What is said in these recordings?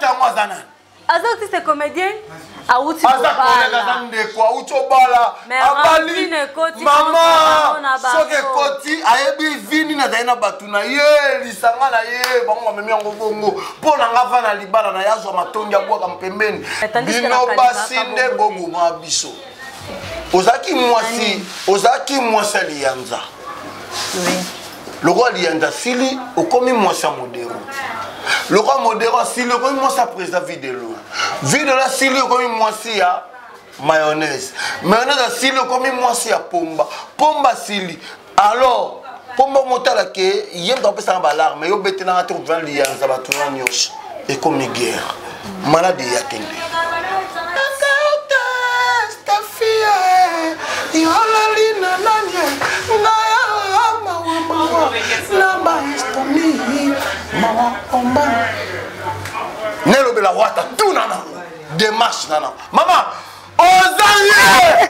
yango aza nani aza auti se comédien awuti aza ndeko awuti obala abali mama soki ekoti ayebi vini nazali na bato na ye lisanga na ye bango bamemi yango bongo mpo na nga va na libala na ye azwa matondi abwaka mpembeni bino basi nde boboma biso ozalaki mwasi ozalaki mwasi ya liyanza lokola liyanza asili okomi mwasi ya modero lokola modero asili okomi mwasi ya président videlo videlo asili okomi mwasi ya mayonnaise mayonnaise asili okomi mwasi ya pomba pomba asili alors mpo mbongo otala ke ye moto apesaka baalarme yo betelanga te kozala liyanza bato na nyonso ekomi guerre maladi eya kende yolali na nani ngaya mawamawa na baestomi mawa omba nelobela wata tuna nango demarche nana mama oza ye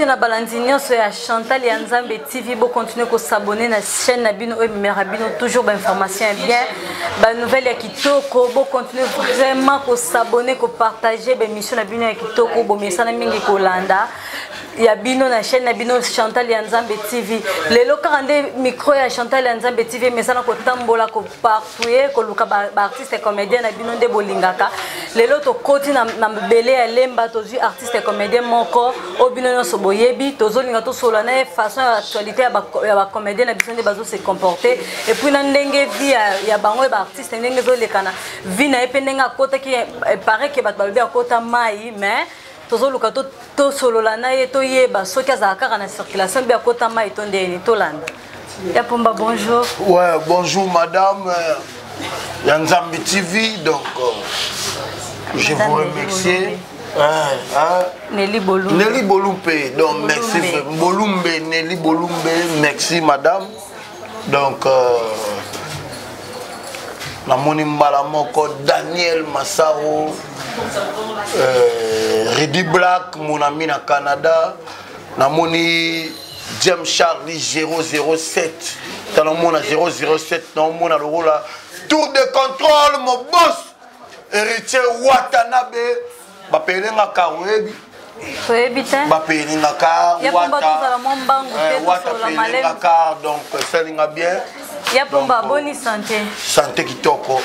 mbote na balandi nyonso ya chantal ya nzambe tv bokontinue kosabone na chaîne na bino oyo ememelaka bino toujours bainformation ya bien banouvelle ya kitoko bokontinue vraiment kosabone kopartage baémission na bino ya kitoko bomesana mingi kolanda ya bino na chaîne na bino chantal ya nzambe tv lelo kaka nde micro ya chantal ya nzambe tv emesana kotambola kopar toye koluka baartiste ba comédien na bino nde bolingaka lelo tokoti na, na bele ya lemba tozwi artiste comédien moko oyo bino nyonso boyebi tozolinga tosolola na ye façon ya actualité ya bacomédien ba na biso nde bazo se comporter epuis na ndenge vie ya, ya bango ya baartiste ndenge ezolekana vie na ye mpe ndenge akotaki eh, pareil ke bato balobi akota mai mais tozoluka tosolola na ye toyeba soki azala kaka na circulation mpe akota mai to ndeni tolanda ya pomba bonjour ouais bonjour madame euh, ya nzambi tv donc euh, je vous remercie Nelly Bolumbe. Nelly Bolumbe. Donc, merci. Bolumbe, Nelly Bolumbe. Merci, madame. donc euh, namoni mbala moko daniel masaro euh, redi black mon ami na canada namoni james charlie 007 tanomona 007 naomona lokola tour de contrôle mobos héritier watanabe bapele nga kar oyebi oyebi te bapele nga kar watawata pele nga kar donc esali nga bien ya pomba boni sante sante kitoko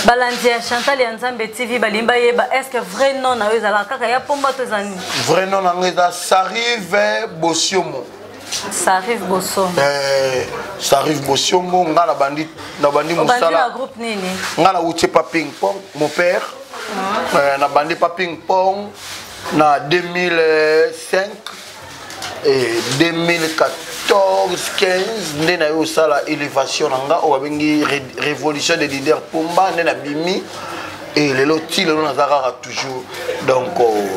balandi ya chantal ya nzambe tv balingi bayeba estce vrai nom na yo ezalaka kaka ya pomba to eza nini vrai nom na nga eza sarive bosiomo ça arrive bosomo eh, ça arrive bosomo nga na bandi na bandi musala groupe nini nga na wuti pa ping pong mon père ah. eh, na bandi pa ping pong na 2005 et 2014 15 nde na yo osala élévation na nga oyo babengi révolution des leaders pomba nde na bimi e lelo ti lelo naza kaka toujours donc oh,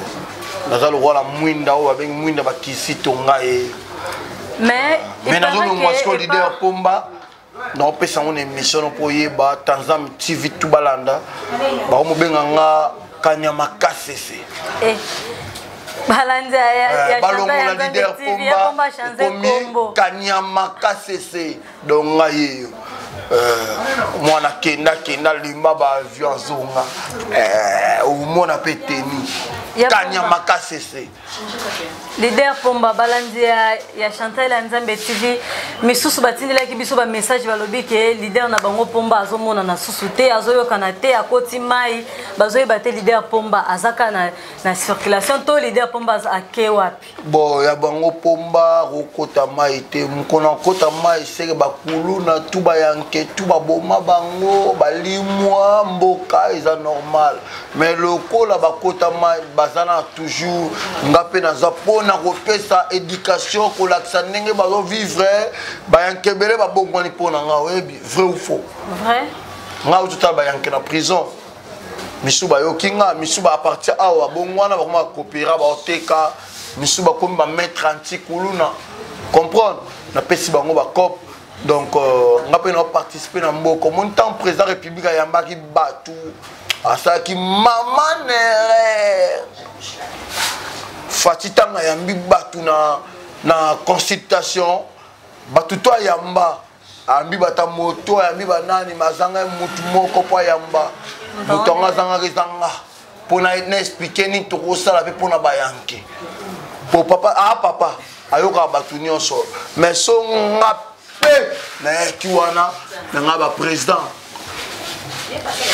naza lokola mwinda oyo babengi mwinda bakisi tonga ye mais mais nazolongwa siko leader pomba naopesa yango na émission no mpo oyeba tanzam tv tu balanda bakomobenga nga kanyama kasese eh. balandi eh, balongola leader pomba ekomi kanyama kasese donc ngai yeyo euh, mwana kenda kenda limba baavion azonga euh, omona mpe teni kanya makasi ese lider pomba balandi ya, ya chantal ya nzambe tv misusu batindelaki biso bamessage balobi ke lider na bango pomba azomonana susu te azoyokana te akoti mai bazoyeba te lider pomba azaka na, na circulation to lider pomba ake wapi bon ya bango pomba kokota mai te mokona kokota mai seke bakuluna tu bayanke tu baboma bango balimwa mboka eza normal mais lokola bakota mai baza na toujours nga mpe naza mpona kopesa éducation kolakisa ndenge bazovivre bayanke ebele babongwani mpo na nga oyebi vrai ou faux vrai nga ototala bayanke na prison misu bayoki nga misu ba partir awa bongo wana bakoma bakopera baoteka misu bakomi bamaître antikuluna comprendre napesi bango bacope donc euh, nga mpe naoparticipe na mboko moni ntango président république ayambaki bato asalaki mama nere fati ntango ayambi bato na, na consultation bato to ayamba ayambi bata moto ayambi banani mazanga mutu moko mpo ayamba moto yango azangaka ezanga mpo na explike nini tokosala mpe mpo na bayanke mpo papa a ah, papa ayokaka bato nyonso mai so nga mpe nayaki wana na nga baprésident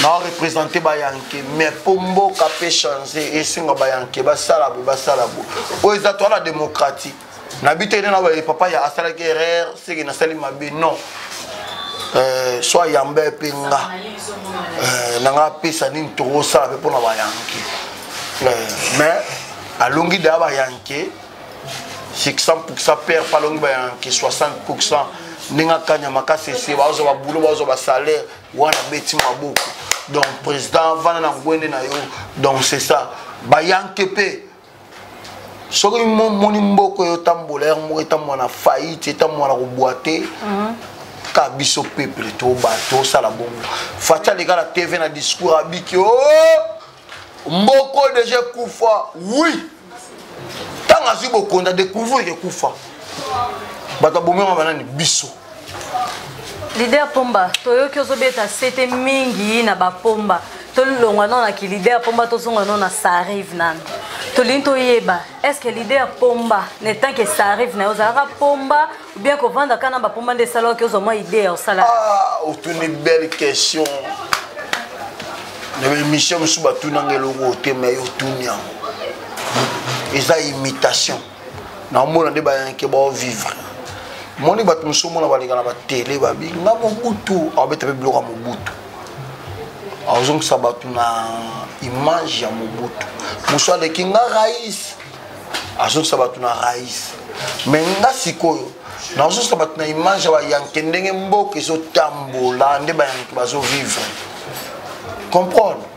nao représente bayanke mai mpo mboka mpe change esenga bayanke basala boye basala boye oyo eza toala démocratie nabi te nena baye papa ya asalaki erreur seke nasali mabe non euh, so ayamba mpe nga euh, na nga apesa nini tokosala mpe mpo na bayanke euh, mais alongi daya bayanke 600 pourcent père mpe alongi bayanke 60 pourcent ndenge akanya makasi ese bazwa babulo bazwa basalaire wana beti maboko donc président vanda na ngwende na yo donc c'est ça bayanke mpe soki moni mboko oyo otambola yango moko etambola na faillite etambola na kobwate mhm. ka biso peuple to bato osala bongo faci aleka na tv na discours abiki o oh, mboko deja ekufa wi ntango azwi bokonzi adecouvrir ekufa bato abomema banani biso lider pomba toyoki ozobeta sete mingi na bapomba tolongwa nano na kilider pomba tozonga nano na sarive nano tolingi toyeba est ce que lider pomba na etant ke sarive na yo ozalaka pomba oubien kovanda kaka na bapomba nde esalaki ozwa mwa idee ya osala ah, otuni belle question na baémission mosusu batunanga eloko otema yo otuni yango eza imitation naomona nde bayanke baovivre moni bato mosusu omona baleka na batele babi nga mobutu aobeta mpe biloko ya mobutu azongisa bato na image ya mobutu mosusu aleki nga rais azongisa bato na rais me nga sikoyo nazongisa bato na image ya bayanke ndenge mboka ezotambola nde bayanke bazovivre comprendre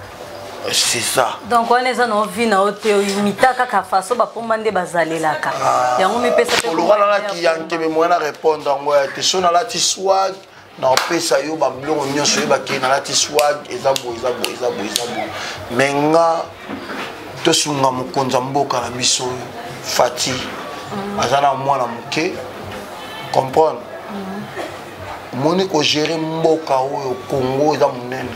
c'est ça donc wana eza na ovi na yo te imita kaka faso bapomba nde bazalelaka ah. yango mipesa olokalanaki ya nkebe moya na répondre yango ya te so nalati swag naopesa yo babiloko nyonso oyo bakei nalati swag eza boye eza boye eza boye eza boye me nga tosunga mokonzi ya mboka na biso oyo fati mm. aza na mwana moke comprendre mm. omoni kogere mboka oyo kongo eza monene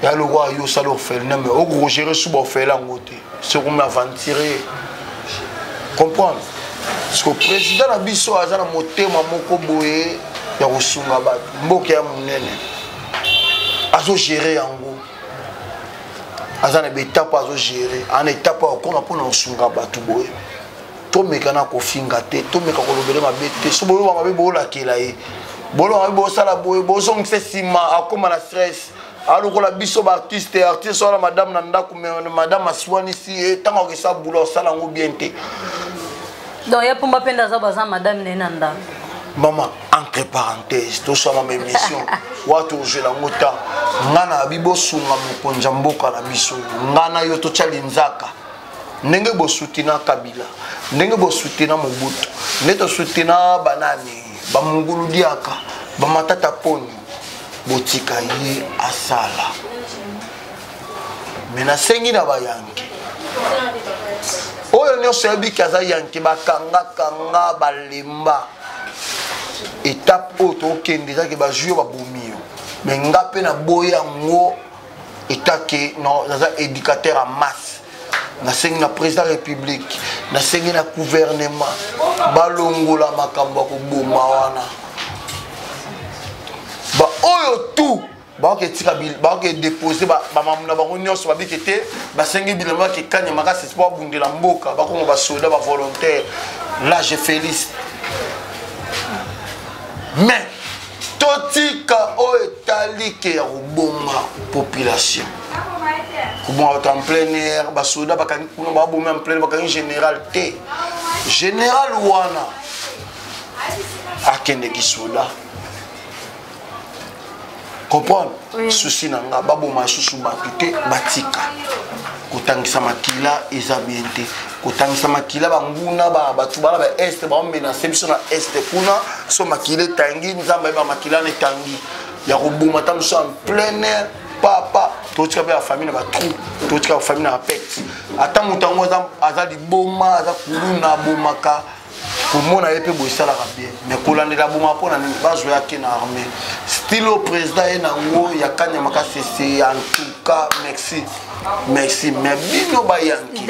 ya lokola yo osala orphelina mais okogere suba ofele yango te sokomi aventurier comprendre parceke président na biso aza na motema moko boye ya kosunga bato mboka ya monene azogere yango aza na baetape azogere ana etape akokoma mpona kosunga bato boye tomeka na kofinga te tomeka kolobele mabe te so boyoba mabe boolakela ye boloba mabe bosala boye bozongisa nsima akoma na stress alokola biso baartiste artiste wana madame na ndako madame aswanisi ye eh, ntango akesa bula osala yango bien te donc ye mpumba mpe ndaza baza madame na ye na ndako mama entre parenthèse tosala ma émission wato ozwela yango ntango ngai na abi bosunga mokonzi ya mboka na biso ngai na yo totya linzaka ndenge bosutena kabila ndenge bosutena mobutu nde tosutena banani bamungulu diaka bamatata poni botika ye asala me nasengi na bayanke oyo nyonso yabiki aza yanke bakangakanga balemba etape oyo tokende ezaki bazwi yo babomi yo me nga mpe naboya yango etat ke non naza éducateur ya masse nasengi na président république nasengi na gouvernement balongola makambo ya koboma wana baoyo tout baoki etika baoki edepose bamamu na bango nyonso babiki te basengi bilamba ya kikanya makasi mpo abundela mboka bakoma basoda bavolontaire lage félix mais totika oyo etali ke ya koboma population koboma bato en plein air basoda bakangi kuna babomi en plein bakangi général te général wana akendeki soda comprendre oui. susi na nga baboma susu bato te batika kotangisa makila eza bien te kotangisa makila banguna bato bana ba este baomenase biso na este kuna so makila etangi nzambe ayeba makila na etangi ya koboma ta mosusu en plein air papa totika mpe bafamille na batrou totika bafamille na bapete ata moto yango aza liboma aza kuluna abomaka komona ye mpe boye esalaka bien mais kolandela boma mpo na nini bazwa yake na armée stilo président ye nango ya kanya makasi ese en tout cas merci merci mais bino bayanki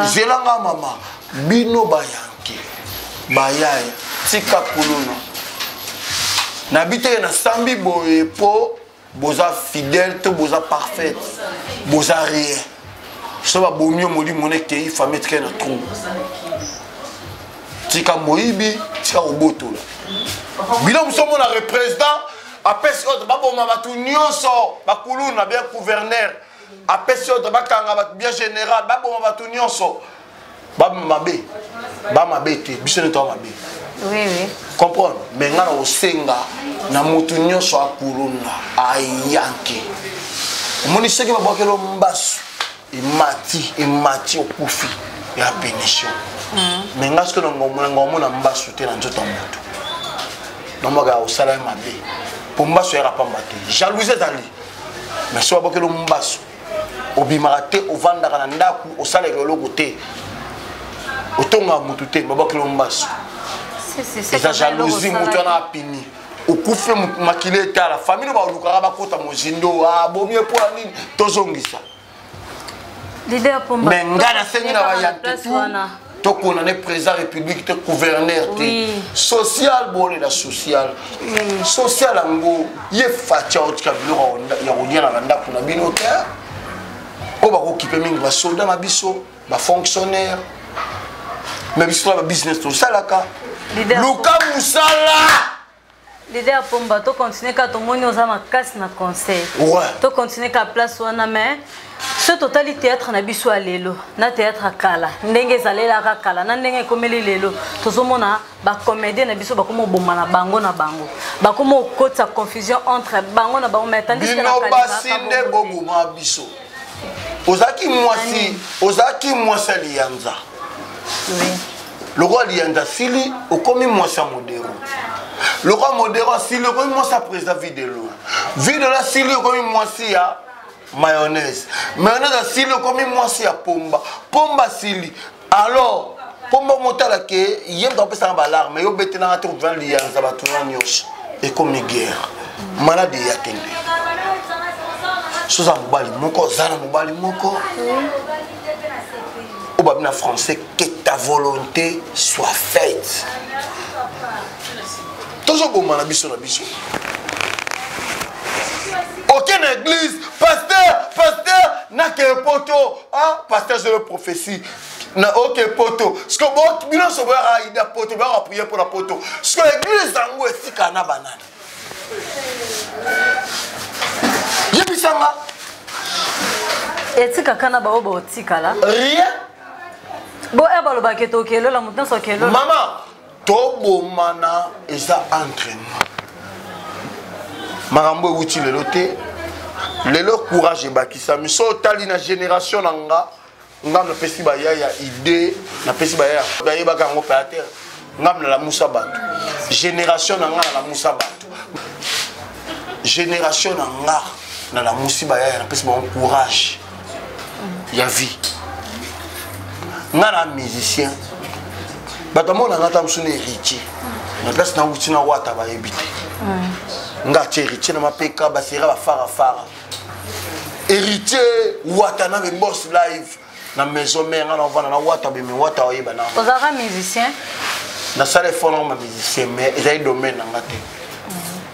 zelanga mama bino bayanki bayaye tika kuluna nabiteke nasambi boye mpo boza fidèle to boza parfaite boza rien so babomi yo molimo nekei famille etikali na trou tika moyibi tika kobotola bino mosu omona représident apesi ordre baboma bato nyonso bakuluna bya gouverneur apesi ordre bakanga bato bya général baboma bato nyonso ba mabe ba mabe te biso nde toa mabe oui, oui. comprendre me nga na kosenga na motu nyonso akuluna ayanke omoni soki babwakelo mbasu emati emati okufi ya punition mm. me nga soki nangonga omona mbasu te na nzoto ya motu namwaka ya kosala ye mabe mpo mbasu yaka pamba te jalousie ezali me soki babwakelo mbasu obimaka te ovandaka na ndako osalaka eloko te otongaka motu te babakelo mbasu eza jalousie motu wana apini okufe makili etala famille oyo balukaka bakota mozindo abomi ah, epo ya nini tozongisa me ngai nasengi na bayantetu to condamné président république te gouverneur te oui. social bone na social mm. social yango ye fatia otika biloko ya kodiana na ndako na bino te oyo bakokipe mingi basolda na biso bafonctionnaire me biso na babusiness tosalaka luka mosala Leader Pomba, to continuer ka tomoni oza makasi na conseil. Ouais. To continuer ka place wana mais ce total théâtre na biso ya lelo na théâtre ya kala ndenge ezalelaka kala na ndenge ekomeli lelo tozomona bacomédien na biso bakoma oboma na bango na bango bakoma okotisa confusion entre bango na bango mais tandisbino basi nde boboma biso ozalaki mwasi ozalaki mwasi ya liyanza lokola liyanza asili okomi mwasi ya modero lokola modero asili okomi mwasi ya président videlo videlo asili okomi mwasi ya mayonnaise mayonnaise asili okomi mwasi ya pomba pomba asili alors mpo mbongo otala ke ye moto apesaka baalarme yo betelanga te kozala liyanza bato na nyonso ekomi guerre maladi eya kende soza mobali moko oza na mobali moko oyo babi na français que ta volonté soit faite tozobomana biso na biso oke na église pasteur pasteur nakeye poto ah, pasteur zelo prophétie na oke poto siko bino nyonso boyaka aida poto boyaka priere mpo na poto siko église yango etika na banani yebisanga etikaka na baoyo baotikala rien bo e balobaka etokelola moto nyonso akelola mama tobomana eza entre nous makambo ewuti lelo te lelo courage ebakisami so otali na génération na nga ngai napesi baya ya idée napesi baya ya bayebaka yango mpe atere ngai nalamusa bato génération na ngai nalamusa bato génération na ngai nalamusi baya ya napesi bango courage ya vie nga na musicien bato amona nga ta mosu na héritier na place na wuti na wata bayebi te nga atye héritier na mapeka basera bafarafara héritier wata na be boss live na maison mère nga na ovanda na wata beme wata oyeba na ozalaka musicien nasala efort na ma musicien mais ezali domaine na nga te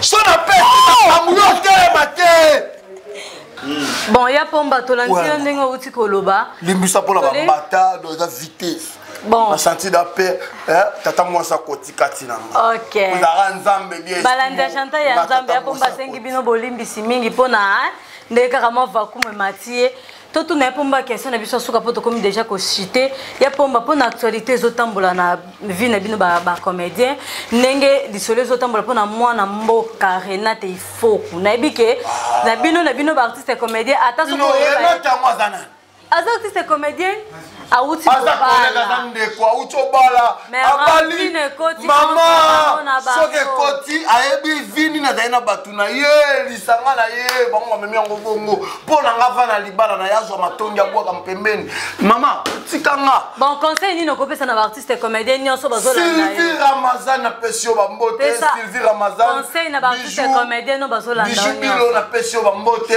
so na pesaango yo telema te bon ya pomba tolandi yo ndenge outi koloba limbisa mpona bambata do eza vitesse bon nasanti da mpe eh, tata mwasi akotika ntina ngaozalaka nzambe biebalandi agenta ya nzambe ya pomba asengi bino bolimbisi mingi mpo na eh, ndenge kaka mwa vakume mati ye totuna ya pomba question na biso asuka mpo tokomi déjà kosite ya pomba mpo na actualité ezotambola na vie na bino bacomédien ndenge lisolo ezotambola mpo na mwana mboka renate ifoku nayebi ke na bino na bino baartiste comédien ata soki aza artiste comédien awuti aza collègue aza ndeko awuti obala abali mama soki ekoti ayebi vini nazali na bato na ye lisanga na ye bango bamemi yango bongo mpo na nga va na libala na ye azwa matondi ya bwaka mpembeni mama tika nga bon conseil nini okopesa na baartiste comédien nyonso bazosylvie ramazan napesi yo bambote sylvie ramazan conseil na baartiste comédien no bazolanda bijubilo napesi yo bambote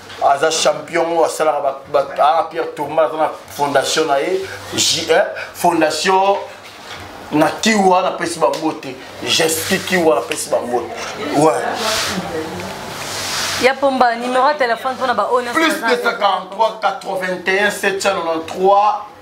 aza champion oyo asalaka ah, pierre tourma aza na fondation na ye eh, fondation na kiwa napesi bango te gesti kiwa napesi bango te ya pomba numero ya telefone mpona baoyo plus 243 81 793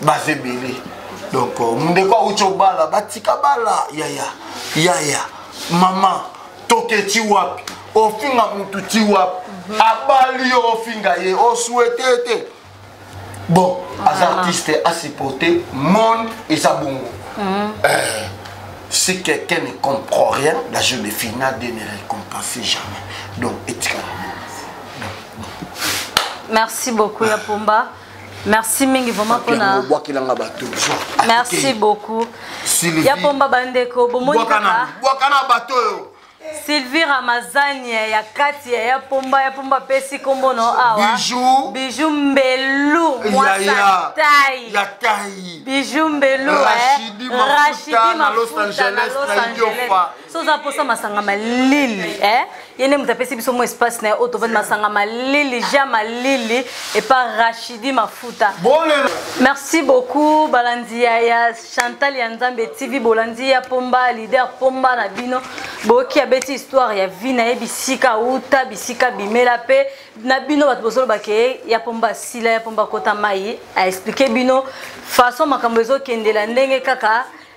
baza ebele donc euh, ndeko auti obala batika bala yaya yaya mama toke ti wapi ofinga mutu ti wapi mhm. abali yo ofinga ye oswete te bon aza ah. artiste asupporte monde eza bongo mhm. eh, si quelqu'un ne comprend rien la jeu de finale de ne récompense jamais donc etikala merci beaucoup ya pomba merci mingi vraiment pona bwakela nga ba toujours merci beaucoup ya pomba bandeko bomoni kaka bwaka na bato oyo sylvie ramazani ya kati ya pomba ya pomba apesi nkombo no awa biju mbelu mwasa tai biju mbelu rashidi mafuta na los angeles na idiofa so oza mposa masanga malili eh? ye nde moto apesi biso mwa espace na ye oyo tovandi masanga malili ja malili epa rachidi mafuta merci beaucoup balandi ya, ya chantal ya nzambe tv bolandi ya pomba leader pomba na bino boyoki abeti histoire ya vie na ye bisika auta bisika bimela mpe na bino bato bozoloba ke ya pomba asila ya pomba akota mai aexplike bino façon makambo ezokendela ndenge kaka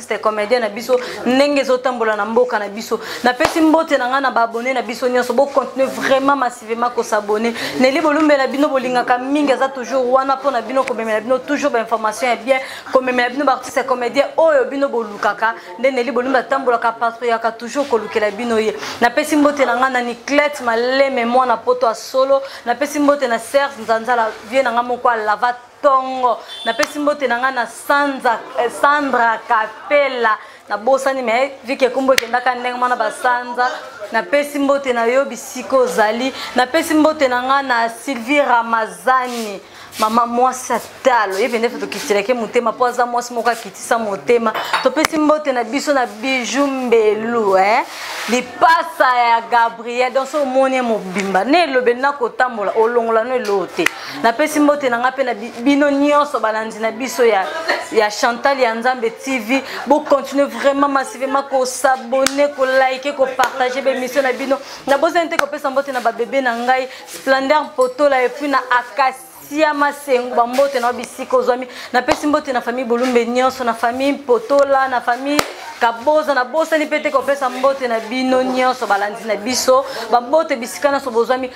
C'était comédien na biso ndenge ezotambola na mboka na biso napesi mbote na ngai na baabone na biso nyonso bocontinue vraiment massivement kosabone neli bolumbela bino bolingaka mingi aza toujours wana mpo na bino komemela bino toujours bainformation ya bien komemela bino baartiste ya comédien oyo bino bolukaka nde neli bolumbe atambolaka patriaka toujours kolukela bino ye napesi mbote na ngai na niclete maleme mwana poto ya solo napesi mbote na serge nzanzala vie na ngai moko alava tongo napesi mbote na ngai na sanza eh, sandra kapela nabosani me vike kombo ekendaka ndenge mwana basanza napesi mbote na yo bisika ozali napesi mbote na ngai na sylvie ramazani mama mwasi atalo ye pende tokitilaki motema mpo aza mwasi moko akitisa motema topesi mbote na biso na biju mbelu eh? lipasa ya gabriel donso omoni ye mobimba na elobeli na kotambola olongola no eloo te napesi mbote na ngai mpe na bino nyonso balandi na biso ya, ya chantal ya nzambe tv bocontinue vraiment massivement kosabone kolike kopartage bemission na bino nabozani te kopesa mbote na babebe na ngai splendeur potola epuis na akasi sia masengo bambote na yo bisika ozwami napesi mbote na famille bolumbe nyonso na famille mpotola na famille kaboza nabosani mpe te kopesa mbote na bino nyonso balandi na biso bambote bisika nyonso bozwami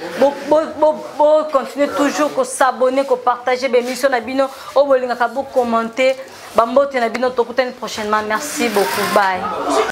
bocontinue bo, bo, toujours kosabone kopartage bemission na bino oyo bolingaka bokommente bambote na bino tokutani prochainement merci beaucoup bye